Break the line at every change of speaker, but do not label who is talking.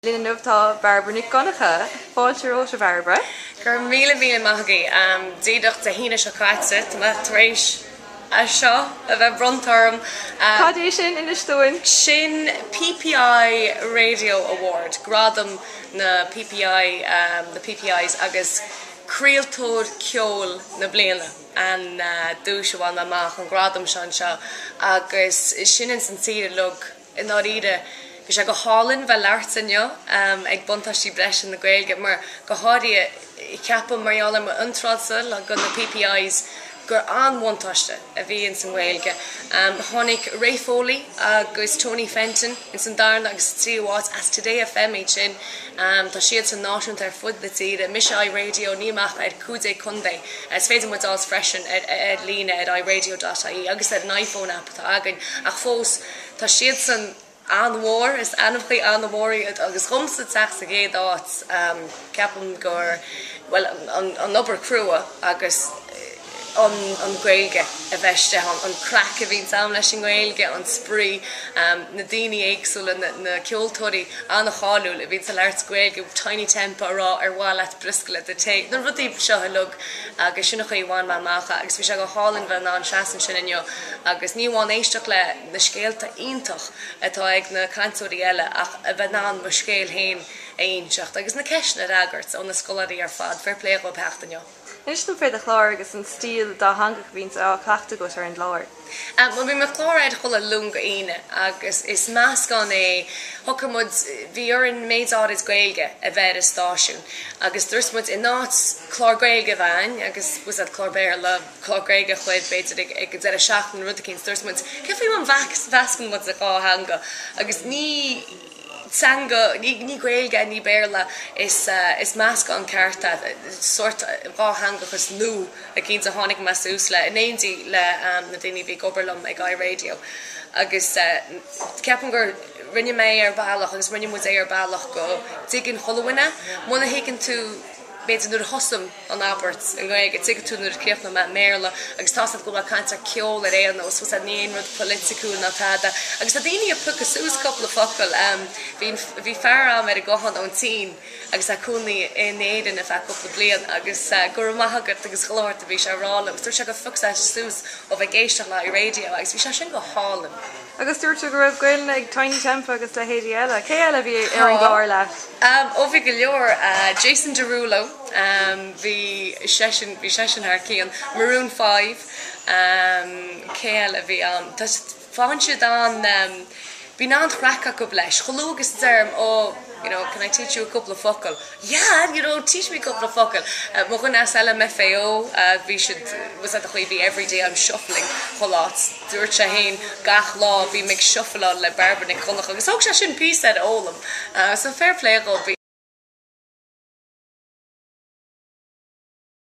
linn inniu tá Bairbre Nic Dhonncha. Fáilte romhat, a Bhairbre. Go raibh míle míle
maith agat. Oíche Dé hAoine seo caite, tá mé tar éis é seo a bheith bronnta orm. Cad é
sin? Inis dúinn.
Sin PPI Radio Award, Gradam na PPI, The PPIs, agus Craoltóir Ceoil na Bliana. an duais a bhain amach an gradam seo anseo agus sin ins an tír uilig i ndáiríre. Bhí sé go hálainn bheith labhairt inniu ar buntáistí breise na Gaeilge mar go háirithe ceapaim mar gheall ar mo iontráilsa le go na PPIs gur an-bhuntáiste a bhí ins an nGaeilge. Tháinig Ray Foley agus Tony Fenton ins an darna agus sa tríú áit as Today FM iad sin. Tá siadsan náisiúnta ar fud na tíre. Mise iRadio, níl ach ar. 15 contae. Is féidir muid a fháil freisin ar líne ar iRadio dot ie agus ar an iPhone app atá againn ach fós tá siadsan an-mhór, is ainmhithe an-mhór iad agus dhomsa teacht sa gcéad áit ceapaim gur, bhuel an obair crua agus an Ghaeilge a bheith istigh ann, an craic a bhíonns ann leis an nGaeilge, an spraoi, na daoine éagsúla, na ceoltóirí an-cháiliúil a bhíonns ag labhairt Gaeilge, Tinie Tempah ag rá ar mhaith leat briosca le do tae, na rudaí seo uilig agus sin an chaoi a bhain mé amach é agus bhí sé go hálainn bheith in ann seas ansin inniu agus ní amháin éisteacht le na scéalta iontach atá ag na cainteoirí eile ach a bheith in ann mo scéal féin a inseacht agus na ceisteanna a fhreagairt ó na scoláirí ar fad, fair play dhóibh theacht inniu. Anois, inis dom faoi do
chlár agus an stíl dátheangach a bhíonns á chleachtadh agat ar an gclár. Bhuel, bíonn mo
chlár air chuile Luan go Aoine agus is meascán é, shocraigh muid, bhí orainn méid áirid Gaeilge a bheith ar an stáisiún agus dúirt muid in áit clár Gaeilge a bheith a'inn agus ansin clár Béarla, clár Gaeilge a chur b'fhéidir ag an deireadh seachtaine nó rud eicínt, dúirt muid cé faoi má mheascann muid an dhá theanga agus ní. teanga ní Gaeilge ní Béarla is is meascán ceart, sórt dhátheangachas rud eicínt a tháinig mé suas le in éindí le na daoine bhí ag obair liom ag iRadio agus ceapaim gur rinne mé ar bhealach agus rinne muid é ar bhealach go dtuigeann chuile dhuine muna thuigeann tú b'fhéidir nuair a thosaim an abairt i nGaeilge, tuigfidh tú nuair a chríochnaím é i mBéarla agus tá 's a'd go bhfuil mé ag caint ar ceol ar aon nós, ní haon rud politicúil ná tada agus tá daoine ag piocadh suas cúpla focal, ehm, bhí, bhí fear a'm ar an nguthán ón tSín agus é ina chónaí in Éirinn ar feadh cúpla bliain agus eh, go raibh maith agat agus chuile shórt a bhí sé a' rá liom agus dúirt sé go phioc sé suas ó bheith ag éisteacht le iRadio agus bhí sé sin go hálainn. Agus dúirt tú
go raibh Gaeilge ag Tinie Tempah agus leithéidí eile. Cé eile a bhí ar an gclár leat? Ó bhí go
leor. Jason Derulo, bhí seisean, bhí seisean thar cionn. Maroon Five, cé eile a bhí ann? Tá siad, fágann siad an-, bíonn an-chraic acub leis. Chomh luath agus a deirim, oh, you know, can I teach you a couple of focal? yeah you know teach me cúpla focail mo dhuine as LMFAO bhí siad was at the, chaoi a bhí every day I'm shuffling chuile áit dúirt sé féin gach lá bím ag siufaláil le Bairbre Nic Dhonnacha agus thóg sé sin píosa a fhoghlaim so fair play dhó bhí